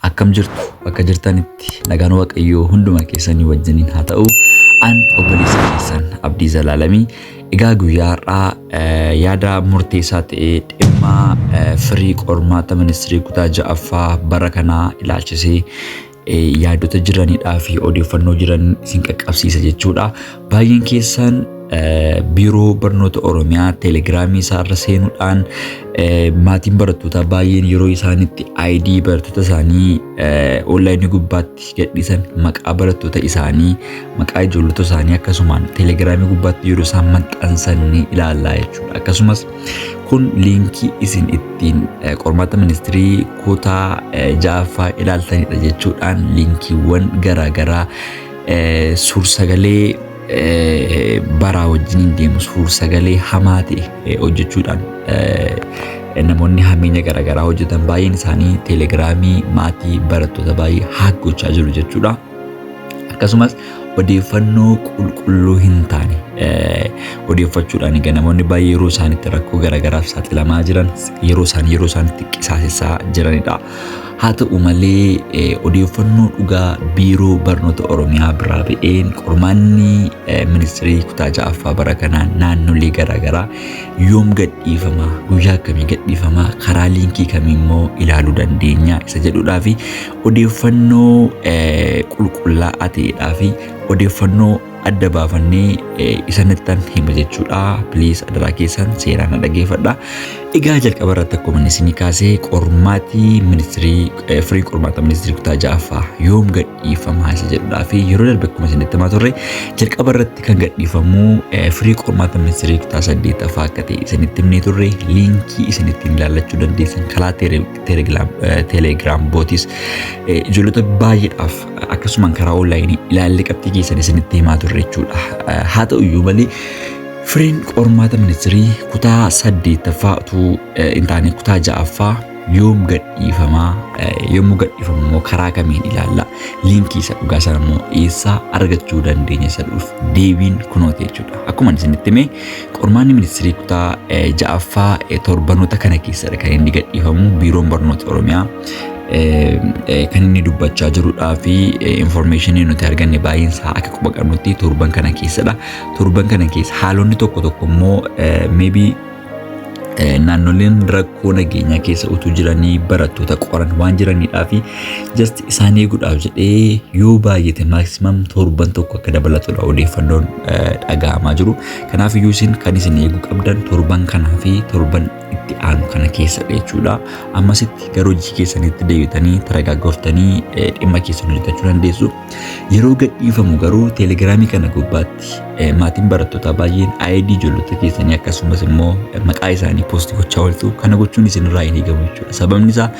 Akkam jirtu bakka jirtanitti nagaan waaqayyoo hunduma keessanii wajjiniin haa ta'u. An obboleessa keessan Abdii Zalaalamii. Egaa guyyaa har'aa eh, yaada murteessaa ta'e dhimma eh, firii qormaata ministirii kutaa ja'affaa bara kanaa ilaalchisee eh, yaadota jiranidhaa fi odeeffannoo jiran isin qaqqabsiisa jechuudha. Baay'een keessaan biiroo barnoota Oromiyaa teelegiraamii isaarra seenuudhaan maatiin barattootaa baay'een yeroo isaanitti ID barattoota isaanii onlaayinii gubbaatti gadhiisan maqaa barattoota isaanii maqaa ijoollota isaanii akkasumaan teelegiraamii gubbaatti yeroo isaan maxxansan ni ilaallaa jechuudha. Akkasumas kun liinkii isin ittiin qormaata ministirii kutaa ja'affaa ilaaltanidha jechuudhaan liinkiiwwan garaagaraa Suursagalee baraa wajjin hin deemu. Suursagalee hamaa ta'e hojjechuudhaan namoonni hammeenya garaagaraa hojjetan baay'een isaanii teelegiraamii maatii barattoota baay'ee haak gochaa jiru jechuudha. Akkasumas odeeffannoo qulqulluu hin taane odeeffachuudhaan egaa namoonni baay'ee yeroo isaanitti rakkoo garaagaraaf saaxilamaa jiran yeroo isaanii yeroo isaanitti qisaasessaa jiranidha. Haa ta'u malee odeeffannoo dhugaa biiroo barnoota Oromiyaa biraa ba'een qormaanni ministirii kutaa ja'affaa bara kanaa naannolee garaagaraa yoom gadhiifama guyyaa akkamii gadhiifama karaa liinkii kamii immoo ilaaluu dandeenya isa jedhudhaa fi odeeffannoo qulqullaa'aa ta'edhaa fi odeeffannoo adda baafannee isanittan hima jechuudha. Please adaraa keessan seeraan na dhageeffadha. Egaa jalqaba irratti akkuma inni isinii kaasee qormaatii ministirii firii qormaata ministirii kutaa ja'affaa yoom gadhiifama isa jedhudhaa fi yeroo darbe akkuma isinitti himaa turre jalqaba irratti kan gadhiifamu firii qormaata ministirii kutaa saddeetaffaa akka ta'e isinitti himnee turre liinkii isinittiin ilaallachuu dandeessan kalaa telegiraam bootis ijoollota baay'eedhaaf akkasumaan karaa onlaayinii ilaallee qabxii keessan isinitti himaa turre jechuudha. Haa ta'u iyyuu malee firiin qormaata ministirii kutaa saddeettaffaa utuu hin taane kutaa ja'affaa yoom gadhiifamaa yommuu gadhiifamu immoo karaa kamiin ilaalla liinkii isa dhugaa sana immoo eessaa argachuu dandeenya isa dhuuf deebiin kunooti jechuudha. Akkuma isinitti hime qormaanni ministirii kutaa ja'affaa torbanoota kana keessadha kan inni gadhiifamu biiroon barnoota Oromiyaa kan inni dubbachaa jirudhaa fi infoormeeshinii nuti arganne baay'een isaa akka quba qabnutti torban kana keessadha. Torban kana keessa haalonni tokko tokko immoo maybe naannoleen rakkoo nageenyaa keessa utuu jiranii barattoota qoran waan jiranidhaa fi just isaan eeguudhaaf jedhee yoo baay'ate maaksimaam torban tokko akka dabalatudha odeeffannoon dhaga'amaa jiru. Kanaaf iyyuu isin kan isin eeguu qabdan torban kanaa fi torban itti aanu kana keessa jechuudha. Ammasitti gara hojii keessanitti deebitanii taragaaggoftanii dhimma keessan hojjetachuu dandeessu. Yeroo gadhiifamu garuu teelegiraamii kana gubbaatti maatiin barattootaa baay'een ID ijoollota keessanii akkasumas immoo maqaa isaanii poostii gochaa ooltu. Kana gochuun isinirraa hin eegamu jechuudha. Sababni isaa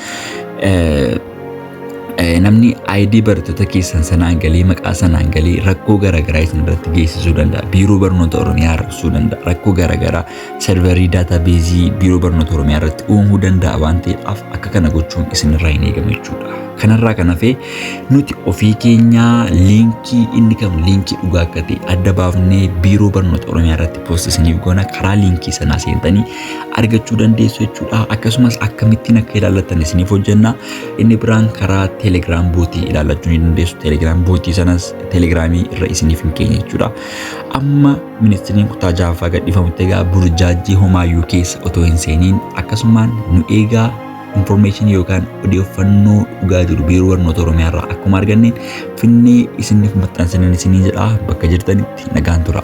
namni ID barattoota keessan sanaan galee maqaa sanaan galee rakkoo garaagaraa isin irratti geessisuu danda'a. Biiroo barnoota Oromiyaa rakkisuu danda'a. Rakkoo garaagaraa Serverii daatabeezii Biiroo Barnoota Oromiyaa irratti uumuu danda'a waan ta'eedhaaf akka kana gochuun isinirraa hin eegamu jechuudha. Kanarraa kan hafe nuti ofii keenyaa liinkii inni kam liinkii dhugaa akka ta'e adda baafnee Biiroo Barnoota Oromiyaa irratti poost isiniif goona karaa liinkii sanaa seentanii argachuu dandeessu jechuudha. Akkasumas akkamittiin akka ilaallattan isiniif hojjenna. Inni biraan karaa Telegram bootii ilaallachuu ni dandeessu. Telegram bootii sanas Telegramii irra isiniif hin keenya jechuudha. Amma Ministiriin kutaa ja'affaa gadhiifamutti egaa burjaajjii homaayyuu keessa otoo hin seeniin akkasumaan nu eegaa informeeshinii yookaan odeeffannoo dhugaa jiru biiroo barnoota Oromiyaa irraa akkuma arganneen finnee isiniif maxxansinan isinii jedhaa bakka jirtanitti nagaan tura.